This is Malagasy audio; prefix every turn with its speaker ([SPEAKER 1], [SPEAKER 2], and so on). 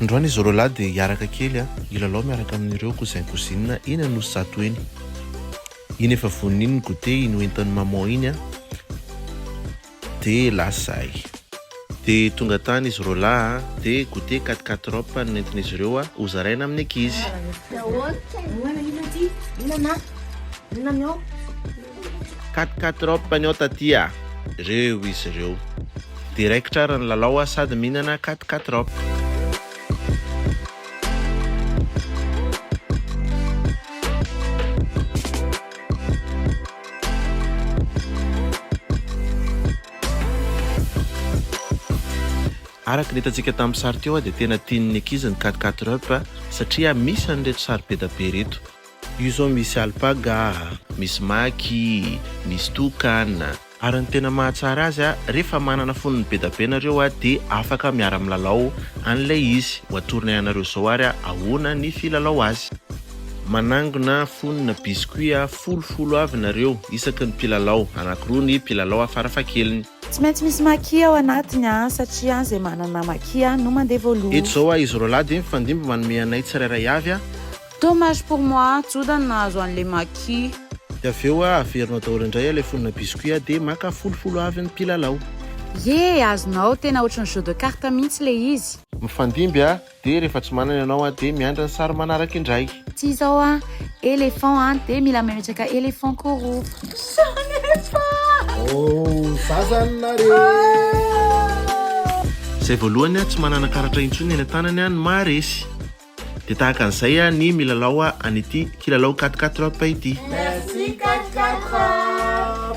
[SPEAKER 1] Androany izy roa lahy dia
[SPEAKER 2] hiaraka kely hilalao miaraka amin'ireo cousin cousine eny Anosizato eny. Iny efa vonona iny ny goûter iny hoentin'i maman iny an! Dia lasa ahy. Dia tonga tany izy roalahy a! Dia goûter quatre quatre robe no nentin'izy ireo a! Ho zaraina amin'ny ankizy. Quatre quatre robe ny ao taty a! Reo izy ireo. Dia raikitra ary ny lalao a! Sady mihinana quatre quatre robe. Araka ny hitantsika tamin'ny sary teo dia tena tian'ny ankizy ny cat cat rup satria misy an'ireto sary be dia be ireto. Io izao misy alpaga, misy maki, misy tokana. Ary ny tena mahatsara azy a, rehefa manana fonony be da be nareo a, de afaka miara milalao an'ilay izy. Ho atoronay anareo izao ary a, ahoana ny filalao azy. Manangona fonona biscuit a, folo folo avy nareo isaky ny mpilalao, anakiroa ny mpilalao a farafahakeliny. Tsy maintsy misy
[SPEAKER 1] maki ao anatiny a, satria a, izay manana maki a no mandeha voalohany. Eto izao a, izy roalahy de
[SPEAKER 2] mifandimby manome anay tsirairay avy a. Dommage pour
[SPEAKER 1] moi, Joda no nahazo an'le Maki. Dia avy eo a,
[SPEAKER 2] averina daholo indray ilay fonona biscuit a, dia maka folo folo avy ny mpilalao. Yeh!
[SPEAKER 1] Azonao, tena ohatry ny jeu de carte mihitsy le izy. Mifandimby a,
[SPEAKER 2] dia rehefa tsy manana ianao a, dia miandry ny sary manaraka indray. Tsy izao a,
[SPEAKER 1] éléphant a, dia mila memetraka éléphant koa roa. Sanefa! Oh,
[SPEAKER 2] za zany nare! Izay voalohany a, tsy manana karatra intsony eny an-tanany a, ny maharesy. Dia tahaka an'izay ny milalao an'ity kilalao quatre quatre up ity. Merci quatre quatre up.